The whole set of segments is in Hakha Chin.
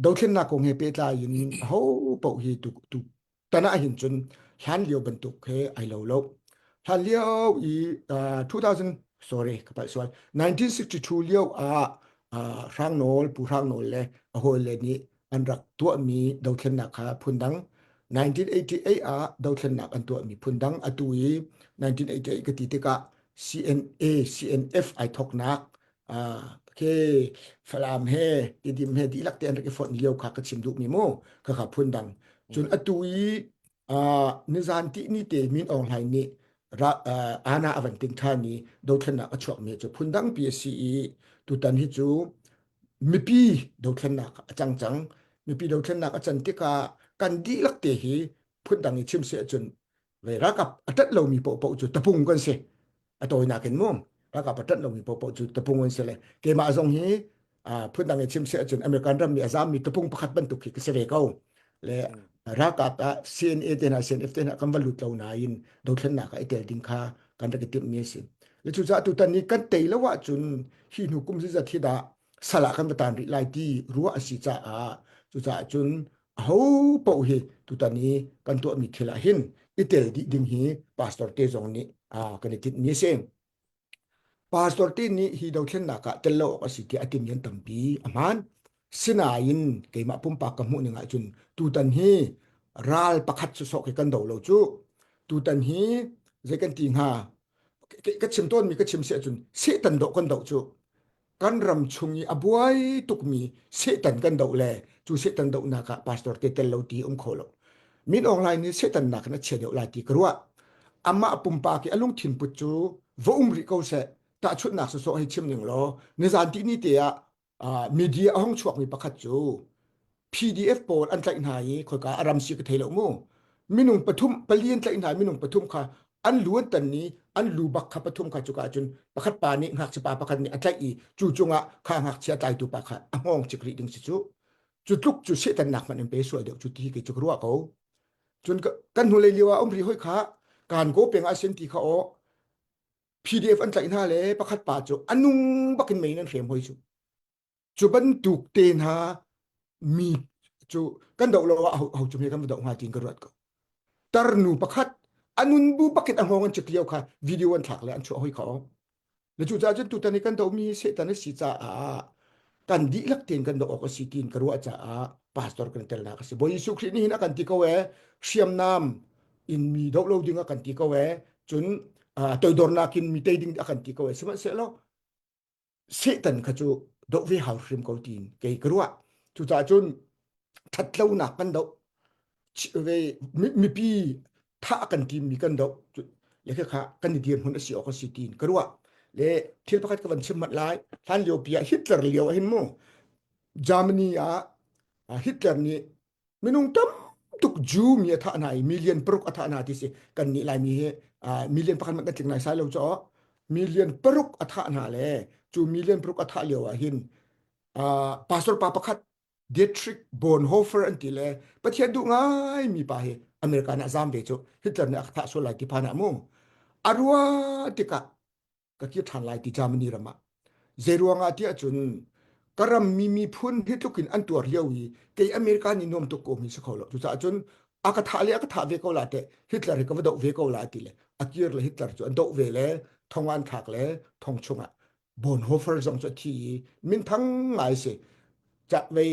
dothlennak kong he pehtlai in hin ho pau hi tu tu tana hin chun hlan lio bantuk he ai lo lo hlan lio i 2000 sorry ka pai sual 1962 lio ah hrang nawl pu hrang nawl le a hol le nih an rak tuah mi dothlennak kha phundang 1988 ah dothlennak an tuah mi phundang atu i 1988 ka ti tikah CNA CNF ai thoknak Ah, okay. Falam he, idim he dihlak te an rak i fon lio kha ka chim duh mi mu. Ka kha phun dang. Cun Mm. atu i ah nizan ti ni te min online ni ra ah ana avan ting than i dothlennak a chuak mi cu phun dang pi a si i tutan hi cu mipi dothlennak a cang cang. Mipi dothlennak a can tikah kan dihlak te hi phun dang i chim se cun le rakap a tat lomi pohpoh cu tapung kan si a tawinak in mum rakap a tat lomi pohpoh cu tapung an si le keimah zong hi phun dang i chim si ahcun American ram mi azam mi tapung pakhat bantuk khi ka si ve ko le rakap ah CNA te hna CNF te hna kan va lut lo nain dothlennak ah i tel ding kha kan rak i timh mi si le cucaah tutan ni kan tei lo ahcun hi hnu kum zizat hi dah sala kan va tan rih lai ti ruah a si caah cucaah cun aho paoh hi tutan i kan tuahmi thil ah hin i tel dih ding hi pastor te zong nih kan i tinhmi a si pastor te nih hi dothlennak ah tel lo awk a si tiah a timyan tampi a hmaan sinain keimah pumpak ka hmuh ning ahcun tutan hi ral pakhat cu sok hi kan do lo cu tutan hi zei kan ti hnga ka chim tawnmi ka chim si ahcun setan doh kan doh cu kan ram chung i a buai tukmi Satan kan doh le cu Satan dohnak ah pastor te tel lo ti um kho lo min online ni Satan nak na chia deuh la ti ka ruah amma pumpa ki alung thin put cu va um ri ko se ta chut nak so so hi chim ning lo ni zan ti ni te ah media hong chuak mi pakhat cu PDF pawl an tlaih hna i khoika a ram si ka thei lo mu minung pathum pali an tlaih hna minung pathum kha an lu an tan ni an lu bak kha pathum kha cuka cun pakhat pa nih ngak pa pakhat nih a tlaih i cu cungah kha ngak chia tlai tu pa kha a hngong chik ri ding si cu cu tluk cu setan nak man in pe sual deuh cu ti ke cu ruwa ko cun kan hnulei liwa um ri hoi kha kan go peng asen ti kha o PDF an tlaih hna le pakhat pa cu anung bakin mei nan hrem hoi chu cu bantuk te hna mi cu kan do lo ah ho cu mi kan va do hnga tin ka ruat ko tar nu pakhat anun bu pakhat a hong an chekio kha video an thlak le an chuah hoi kho le cu ca cun tutan i kan do mi setan a si ca ah kan di lak tin kan do ok a si tin ka ruah ca ah pastor kan tel na ka si bo Jesu Christ ni hin a kan ti ko e hriamnam in mi do lo ding a kan ti ko e cun toidornak in mi te ding a kan ti ko e sihmanhsehlaw Satan kha cu doh ve hau hrim ko tiin kei ka ruah. Cucaah cun ṭhatlonak kan doh ve mipi thah kan timmi kan doh le khakha kan i dir hmun a si awk a si tiin ka ruah le thil pakhat ka van chim mat lai hlan lio pi ah Hitler lio ah hin mu Germany ah Hitler nih Minung tam tuk Jew mi a thah hna i million paruk a thah hna ti si kan nih Laimi hi uh, million pakhat mat kan tling lai sai lo caw million paruk a thah hna le cu million paruk a thah lio ah hin uh, pastor pa pakhat Dietrich Bonhoeffer an ti le Pathian duh ngai mi pa hi America nih a zam ve cu Hitler nih a thah sual lai ti phan ah mu a rua tikah ka kir ṭhan lai ti Germany ram ah zei ruangah tiah cun ka rammi miphun hi tluk in an tuar lio i kei America nih nuam tuk ko mi si kho lo cucaah cun a ka thah le a ka thah ve ko la te Hitler hi ka va doh ve ko la ti le a kir le Hitler cu an doh ve le thongan thak le thong chungah Bonhoeffer zong cu a thi i min thang ngai si chak vei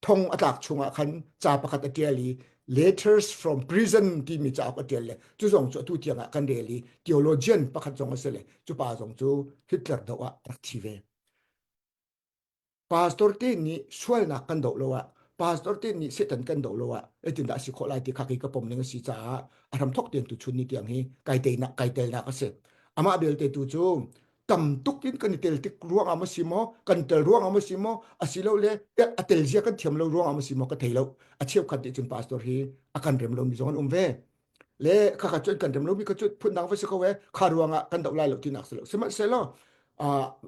thong a tlak chungah khan ca pakhat a tial i letters from prison timi cauk a tial le cu zong cu atu tiangah kan rel i theologian pakhat zong a si le cu pa zong cu Hitler do ah a rak thi ve pastor te nih sualnak kan do lo ah pastor te nih satan kan do lo ah etin dah si khawh lai ti kha ka pom ning a si caah a ram thok ten tu chun ni tiang hi kai teinak kai telnak a si amah belte tu cu tam tuk in kan i tel tik ruangam a si maw kan tel ruangam a si maw a si lo le a tel zia kan thiam lo ruangam a si maw ka thei lo a cheu khat nih cun pastor hi a kan rem lo mi zong an um ve le kha kha cu kan rem lo mi kha cu phundang va si ko e kha ruangah kan doh lai lo tinak si lo sihmanhsehlaw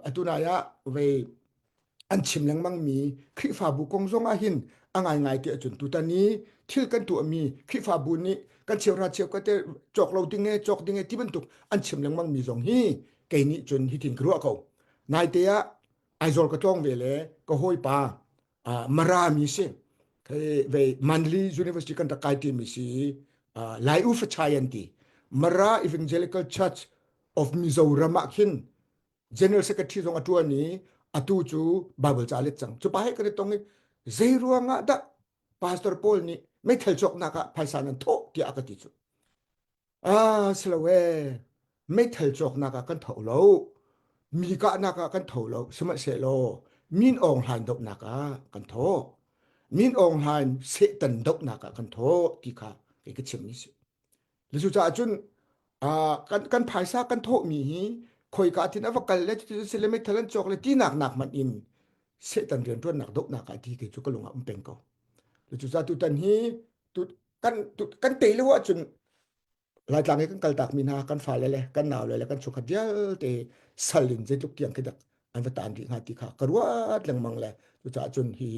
atu nai ah vei an chim lengmang mi Khrihfabu kong zong ah hin a ngaingai te cun tutan i thil kan tuah mi Khrihfabu nih kan cheuhra cheu ka te cawk lo ding e cawk ding e ti bantuk an chim lengmang mi zong hi kei nih cun hi tin ka ruah ko nai te ah Aizol ka tlong ve le ka hoi pa mara mi si ve Manly University kan rak kai ti mi si lai u fa chai an ti mara evangelical church of mizoram ah khin general secretary zong a tuan i atu cu bible ca let cang cu pa he ka te tong i zei ruangah dah pastor paul nih meithal cawknak ah phaisa nan thawh tiah a ka ti cu ah silo e meithal cawknak ah kan tho lo mi kahnak ah kan tho lo sihmanhsehlaw min ong hlan dohnak ah kan tho min ong hlan setan dohnak ah kan tho ti kha kei ka chim ni si Le cucaah cun kan phaisa kan thawhmi hi khoika tin a va kal le cucu si le meithal an cawk le tinak nak hmanh in setan riantuannak dohnak ah ti ti cu ka lung ah um peng ko le cucaah tutan hi kan tei lo ahcun laitlang i kan kaltak mi hna kan fale le kan nau le le kan chukhat vialte sal in zeitluk tiang khidak an va tan rih hnga ti kha ka ruat lengmang le cucaah cun hi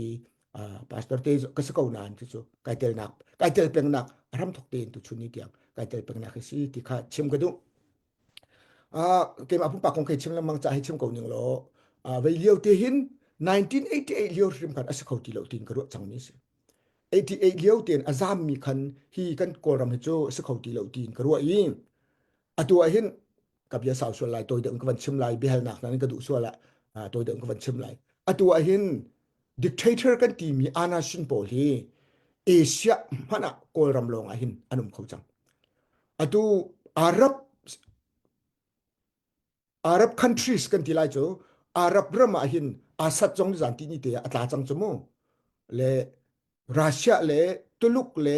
pastor te ka si ko nan ti cu kai tel nak kai tel peng nak ram thok te tu chun ni tiang kai tel peng nak hi si ti kha chim ka du a ke ma pung pa kong ke chim lamang cha hi chim ko ning lo a vei liu te hin 1988 liu rim khan asi kho ti lo tin ka ru chang ni si 88 liu ten azam mi khan hi kan kol ram hi chu si kho ti lo tin ka ru i atu hin ka bia sau sual lai toi deuh ka van chim lai bihal nak nan ka duh sual la toi deuh ka van chim lai atu ah hin dictator kan ti mi ana sin pawl hi asia mana kawlram lawng ah hin anum kho chang atu arab arab countries kan ti lai chu arab ram ah hin asat jong zan ti ni te atla chang chu mu le russia le tuluk le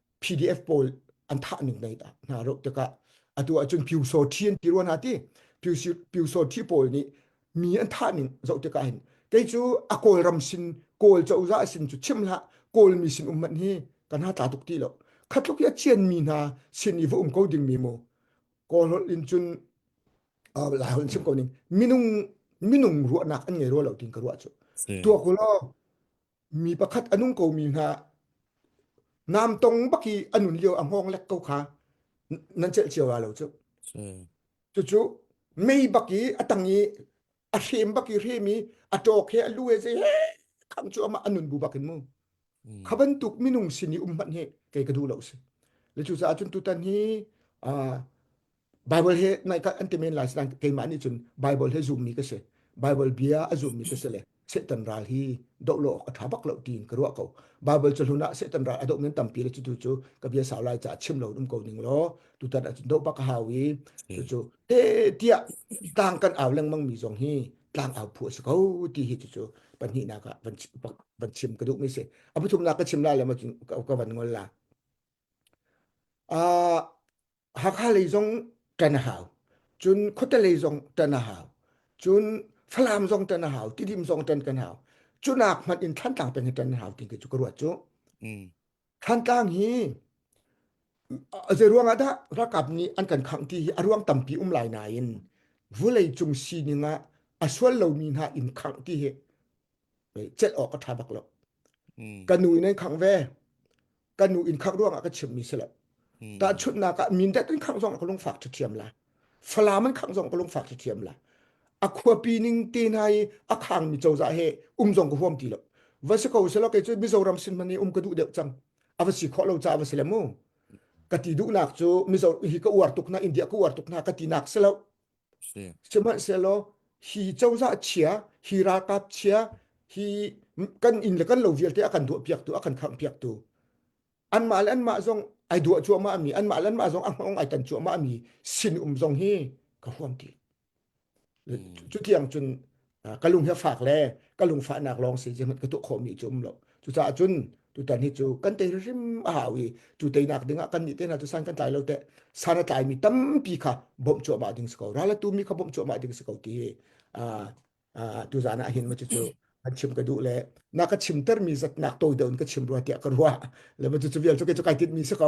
PDF pawl an thah ning nei ta hna ro tikah atu ahcun Pyu So Thi an ti ruan ha ti Pyu So Thi pawl nih mi an thah ning zoh tikah hin kei cu a kawlram sin kawl cozah sin cu chim la kawl mi sin umman hi kan ha tla tuk ti lo khatluk ya chian mi hna sin i va um ko ding mi mo kawl hol in cun la hol sim ko ning minung minung ruahnak an ngei ro lo tin ka ruah chu tua kulo mi pakhat a nung komi hna nam tong bak i a nun lio a hngawng lek ko kha nan celh cio wa lo cu cucu mei bak i a tang i a hrem bak i hrem i a ṭawk he a lu he zei khang cu amah a nun bu bak in mu kha bantuk minung sin i um hmanh he kei ka duh lo si le cucaah cun tutan hi Bible he naika an te men lai sidang keimah ni chun Bible he zoom mi ka se Bible bia a zoom mi ka se le Satan ral hi do lo a tha bak lo tin ka ruwa ko Bible chu hluna Satan ral a do men tampi le chu tu chu ka bia sau lai cha chim lo dum ko ning lo tu tan a chin do bak hawi chu chu te tia tang kan aw leng mang mi zong hi tlang aw phu se ko ti hi chu chu pan hi na ka van chim ka duk mi se abu thum na ka chim la le ma ka van ngol la a Hakha lei zong kan hau. Cun khuate lei zong tan a hau. Cun Falam zong tan a hau. Tidim zong tan kan hau. Cu nak hmanh in Thantlang peng in tan a hau ti cu ka ruat cu. Mm. Thantlang hi zei ruang ah dah rakap nih an kan khangh ti hi a ruang tampi um lai nain vulei cung sining ah a sual lomi hna inn khangh ti hi celh awk a ṭha bak lo. Mm. Ka nu in an khang ve. Ka nu in khak ruangah ka chimmi si lo. Mm. Tahchunhnak ah min dat in khang zong ka lung fak ṭha thiam la. Falam an khang zong ka lung fak ṭha thiam la. A khuapi ning te hna i a khang mi cozah he um zong ka huam ti lo. Va si ko selo kei cu Mizoram sin man i um ka duh deuh cang. A va si khawh lo ca va si le mu. Ka ti duhnak cu Mizo hi ka uar tuk na India ka uar tuk na ka ti nak si lo. si. Sihmanhsehlaw hi cozah chia, hi ralkap chia, hi kan inn le kan lo vialte a kan duah piak tu, a kan khang piak tu. Anmah le anmah zong ai duah cuahmah ami, anmah le anmah zong ahmong ai tan cuahmah ami, sin um zong hi ka huam ti. Cu tiang cun ka lung hi fak le ka lung fahnak lawng si sihmanh ka tuah khawhmi cu um lo cucaah cun tutan hi cu kan tei hrim a hau i cu teinak dingah kan nih tena cu san kan tlai lo te san a tlai mi tampi kha bawmh cuahmah ding si ko rala tu mi kha bawmh cuahmah ding si ko ti tu zan ah hin ma cu kan chim ka duh le na ka chim ter mi zat nak to deun ka chim rua tiah ka rua le ma cu vial cu ke cu kai tit mi si ko